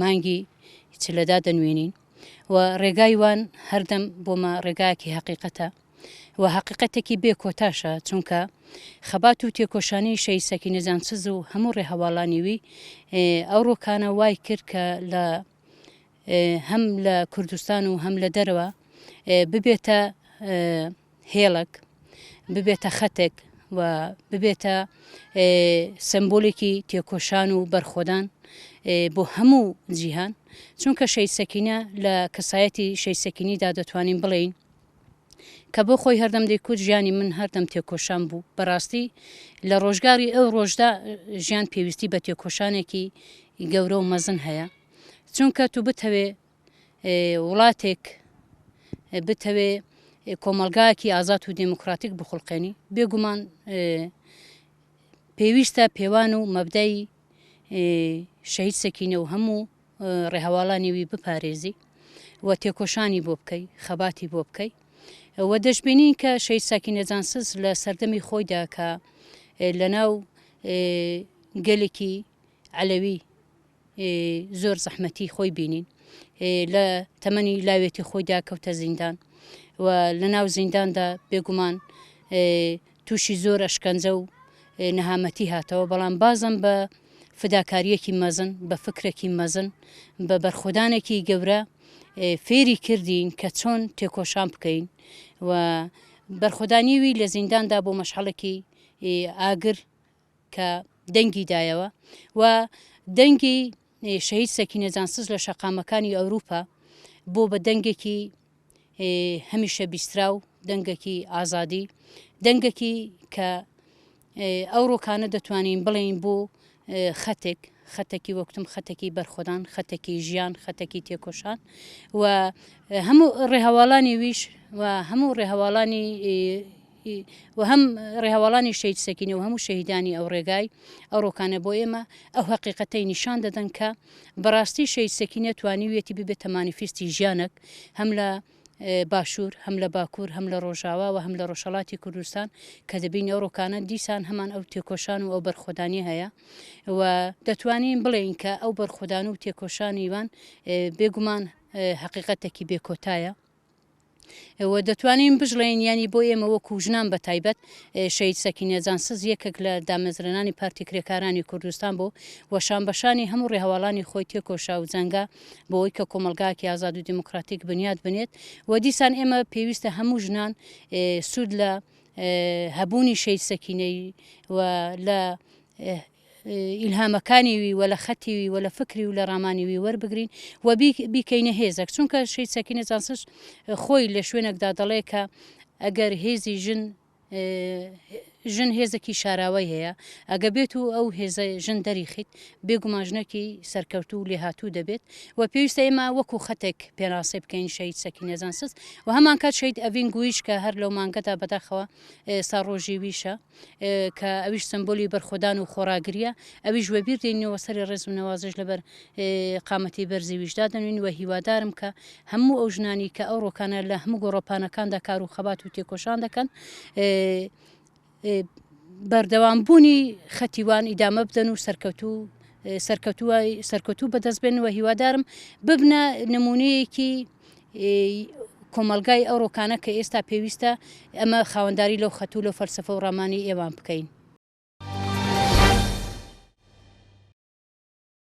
مانگی چلەدا دەنوێنین و ڕێگای وان هەردەم بۆمە ڕێگایەکی هەقیقەتە و هەقیقەتێکی بێ کۆتاشە چونکە خەبات و تێکۆشانی شەی سەکی نەجانسز و هەموو ڕێهەواڵانیوی ئەو ڕۆکانە وای کرد کە لە هەم لە کوردستان و هەم لە دەرەوە ببێتە هێڵێک ببێتە خەتێک و ببێتە سمبولێکی تێکۆشان و بەرخۆدان بۆ هەموو جیهان چونکە شەید سەکینە لە کەسایەتی شەید سەکینیدا دەتوانین بڵێین کە بۆ خۆی هەردەم دەیکوت ژیانی من هەردەم تێکۆشان بوو بەڕاستی لە ڕۆژگاری ئەو ڕۆژدا ژیان پێویستی بە تێکۆشانێکی گەورە و مەزن هەیە چونکە تو بتەوێ وڵاتێک بتەوێ کۆمەڵگایەکی ئازاد و دێموکراتیک بخڵقێنی بێگومان پێویستە پێوان و مەبدای شەهید سەکینە و هەموو ڕێهواڵانی وی بپارێزی و تێکۆشانی بۆ بکەی خەباتی بۆ بکەی و دەشببینین کە شەید ساکینە جانسز لە سەردەمی خۆیدا کە لە ناو گەلێکی عەلەوی زۆر زەحمەتی خۆی بینین لە تەمەنی لاوێتی خۆیدا کەوتە زیندان و لە ناو زینداندا بێگومان تووشی زۆر ئەشکەنجە و نەهامەتی هاتەوە بەڵام بازم بە فداکاریەکی مەزن بە فکرێکی مەزن بە بەرخودانێکی گەورە فێری کردین کە چۆن تێکۆشان بکەین و بەرخودانیوی لە زینداندا بۆ مەشحەڵێکی ئاگر کە دەنگی دایەوە و دەنگی شەهید سەکینە جانسز لە شەقامەکانی ئەوروپا بۆ بە دەنگێکی هەمیشە بیسترا و دەنگەکی ئازادی دەنگەکی کە ئەو ڕۆکانە دەتوانین بڵێین بۆ خەتێک خەتەکی وەکتم خەتەکی بەرخۆدان خەتەکی ژیان خەتەکی تێکۆشان و هەموو ڕێهواڵانی ویش و هەموو ڕێهواڵانی ی و هەم ڕێهەواڵانی شەهید سەکینە و هەموو شەهیدانی ئەو ڕێگای ئەو ڕۆکانە بۆ ئێمە ئەو هەقیقەتەی نیشان دەدەن کە بەڕاستی شەهید سەکینە توانیویەتی ببێتە مانیفیستی ژیانەک هەم لە باشوور هەم لە باکوور هەم لە ڕۆژاوا و هەم لە ڕۆژهەڵاتی کوردستان کە دەبینی ئەو ڕۆکانە دیسان هەمان ئەو تێکۆشان و ئەو بەرخۆدانی هەیە و دەتوانین بڵێین کە ئەو بەرخۆدان و تێکۆشانی وان بێگومان حقیقەتێکی بێکۆتایە و دەتوانین بژڵێین یانی بۆ ئێمە وەکو ژنان بە تایبەت شەید سەکینە جانسز یەکێک لە دامەزرێنانی پارتی کرێکارانی کوردستان بوو و شانبەشانی هەموو ڕێهەواڵانی خۆی تێکۆشا و جەنگا بۆی کە کۆمەلگاکی ئازاد و دیموکراتیک بنیاد بنێت و دیسان ئێمە پێویستە هەموو ژنان سوود لە هەبوونی شەید سەکینەی و لە ئیلهامەکانی وی و لە خەتی وی و لە فکری و لە ڕامانی وی وەربگرین و بیکەینە هێزەک چونکە شەید سەکینە جانسز خۆی لە شوێنێکدا دەڵێ کە ئەگەر هێزی ژن ژن هێزێکی شاراوەی هەیە ئەگە بێت و ئەو هێزە ژن دەریخیت بێگوماژنێکی سەرکەوت و لێهاتوو دەبێت و پێویستە ئێمە وەکو خەتێک پێناسەی بکەین شەید سەکی نێزانسز و هەمان کات شەید ئەڤین گویش کە هەر لەو مانگەدا بەداخەوە ساڕۆژی ویشە کە ئەویش سمبولی بەرخۆدان و خۆڕاگرییە، ئەویش وەبیر دەینەوە، سەری ڕێز و نەوازش لەبەر قامەتی بەرزی ویش دادەنوین و هیوادارم کە هەموو ئەو ژنانی کە ئەو ڕۆکانە لە هەموو گۆڕەپانەکاندا کار و خەبات و تێکۆشان دەکەن بەردەوام بوونی خەتیوان ئیدامە بدەن و سەرکەوتوو سەرکەوتووە سەرکەوتوو بەدەست بێنەوە هیوادارم ببنە نمونەیەکی کۆمەڵگای ئەو ڕۆکانە کە ئێستا پێویستە ئەمە خاوەنداری لەو خەتو لەو فەلسفە و ڕامانی ئێوان بکەین.